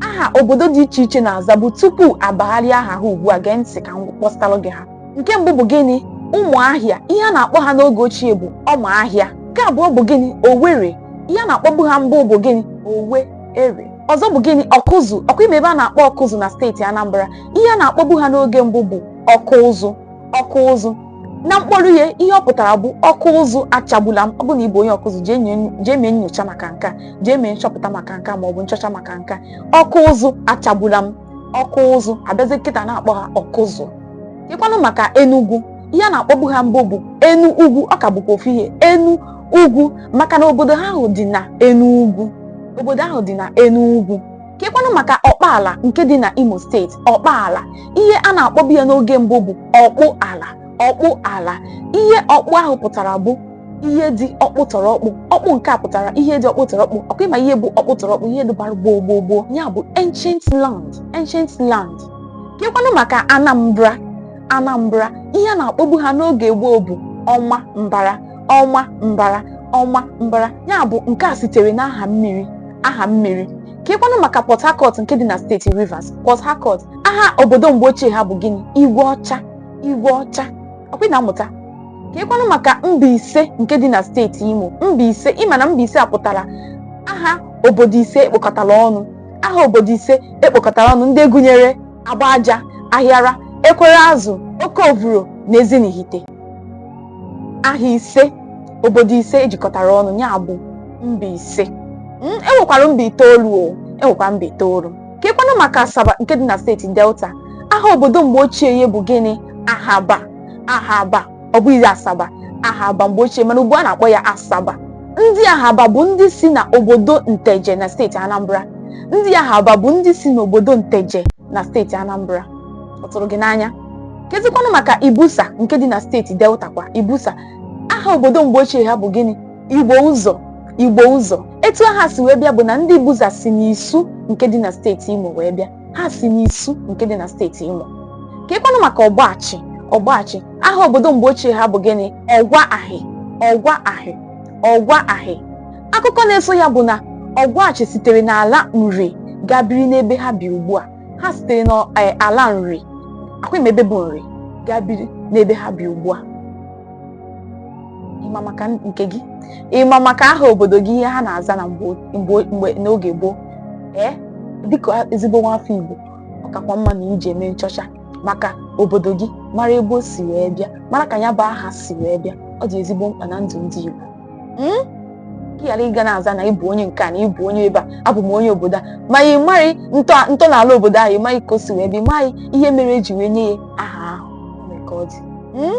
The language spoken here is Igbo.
aha obodo dị iche iche na-azabu tupu abagharịa aha ha ugbu a gee ntị ka m kpọpụtalụ gị ha nke mbụ bụ gịnị ụmụahịa ihe a na-akpọ ha n'oge ochie bụ ọma ahịa nke abụọ bụ gịnị owere ihe a na-akpọbu ha mbụ bụ gịnị owe ere ọzọ bụ gịnị ọkụzụ ọkwa ị ma ebe a na-akpọ ọkụzụ na steeti anambra ihe a na-akpọbu ha n'oge mbụ bụ ọkụ ụzụ ọkụ ụzụ na mkpọrọ ihe ihe ọ pụtara bụ ọkụ ụzụ achagbula m ọ bụ na ị bụ onye ọkụzụ jee nye- jee mee nyocha maka nke a jee mee nchọpụta maka nke a ma ọ bụ nchọcha maka nke a ọkụ ụzụ achagbula m ọkụ ụzụ a bịazie kịta na-akpọ ha ọkụzụ kekwanụ maka enugwu ihe a na-akpọbu ha mbụ bụ enu ugwu ọ ka bụkwa ofu ihe enu ugwu maka na obodo ha ahụ dị na enu ugwu obodo ahụ dị na enu ugwu kekwanụ maka ọkpaala nke dị na Imo steeti ọkpaala ihe a na-akpọbu ya n'oge mbụ bụ ọkpụ ala ọkpụ ala ihe ọkpụ ahụ pụtara bụ ihe dị ọkpụ tọrọ ọkpụ ọkpụ nke a pụtara ihe dị ọkpụ tọrọ ọkpụ ọkwa ị ma ihe bụ ọkpụ tọrọ ọkpụ ihe dịbara gboo gboo gboo ya bụ ancient land ancient land kekwanụ maka Anambra Anambra ihe a na-akpọbu ha n'oge gboo bụ ọma mbara ọma mbara ọma mbara ya bụ nke a sitere n'aha mmiri aha mmiri kekwanụ maka Port Harcourt nke dị na steeti Rivers Port Harcourt aha obodo mgbe ochie ha bụ gịnị igwe ọcha igwe ọcha ọkwa ị na-amụta kekwanụ maka Mbaise nke dị na steeti Imo Mbaise ị ma na Mbaise a pụtara aha obodo ise e kpokọtara ọnụ aha obodo ise e kpokọtara ọnụ ndị gụnyere agbaja ahịara ekwereazụ oke ovuro na ezinihite aha ise obodo ise e jikọtara ọnụ ya bụ mba ise Mm, e nwekwara mba itoolu o e nwekwara mba itoolu kekwanụ maka asaba nke dị na steeti delta aha obodo mgbe ochie ya bụ gịnị ahaba ahaba ọ bụghị asaba ahaba mgbe ochie mana ugbu a na-akpọ ya asaba ndị ahaba bụ ndị si na obodo nteje na steeti anambra ndị ahaba bụ ndị si n'obodo nteje na steeti anambra ọ tụrụ gị n'anya kezikwanụ maka ibusa nke dị na steeti delta kwa ibusa aha obodo mgbe ochie ha bụ gịnị igbo ụzọ igbo ụzọ etu aha si wee bịa bụ na ndị ibuza si n'isu nke dị na steeti imo wee bịa ha si n'isu nke dị na steeti imo kekwanụ maka ọgwashi ọgwashi aha obodo mgbe ochie ha bụ gịnị ọgwa ahị ọgwa ahị ọgwa ahị akụkọ na-eso ya bụ na ọgwashi sitere n'ala nri gaa biri n'ebe ha bi ugbu a ha sitere n'ala e, nri ọkwa ị ma ebe bụ nri gaa biri n'ebe ha bi ugbu a ị ma maka nke gị ị ma maka aha obodo gị ihe ha na-aza na mgbe n'oge gboo ee dịka ezigbo nwafọ Igbo ọ kakwa mma na ị jee mee nchọcha maka obodo gị mara ebe o si wee bịa mara ka ya bụ aha si wee bịa ọ dị ezigbo mkpa na ndụ ndị Igbo hmm? ka ị ghara ịga na-aza na ịbụ onye nke a na ịbụ onye ebe a abụ m onye obodo a ma ị maghị ntọala obodo ahụ ị maghị ka o si wee bịa ị maghị ihe mere eji wee nye ya aha ahụ ọ mere ka ọ dị hmm?